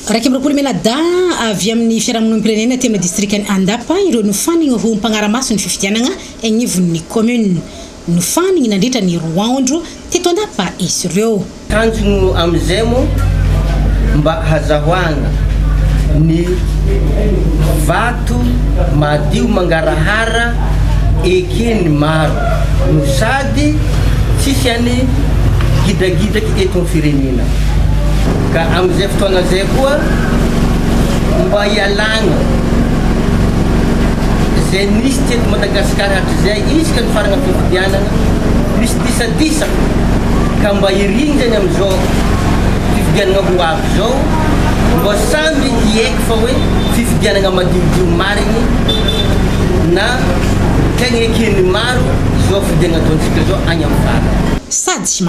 Iraika amby roapolo Menadahy avy amin'ny fiarahamonim-pirenena aty amin'ny distrikan'i Andapa ireo nofaniny ho mpanara-maso ny fifidianana anivon'ny kaominina. Nofaniny nandritra ny roa andro teto Andapa izy ireo. Tanjona amin'izay moa mba hazahoana ny vato madio mangarahara eken'ny maro no sady tsisy any gidragidraka. eto amin'ny firenena ka amin'izay fotoana izay koa mba hialana izay nisy teto Madagasikara hatrizay isika nifarana fifidianana misy disadisa ka mba hirindrany amin'izao fifidianana ho avy izao mba samy hiaiky fa hoe fifidianana madiodio marigny na tegna eken'ny maro izao fifidianana ataontsika izao agny amin'ny farany.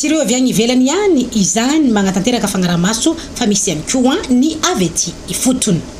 Tsy ireo avy any ivelany ihany izany manatanteraka fagnarahamaso fa misy ihany koa ny avy ety ifotony.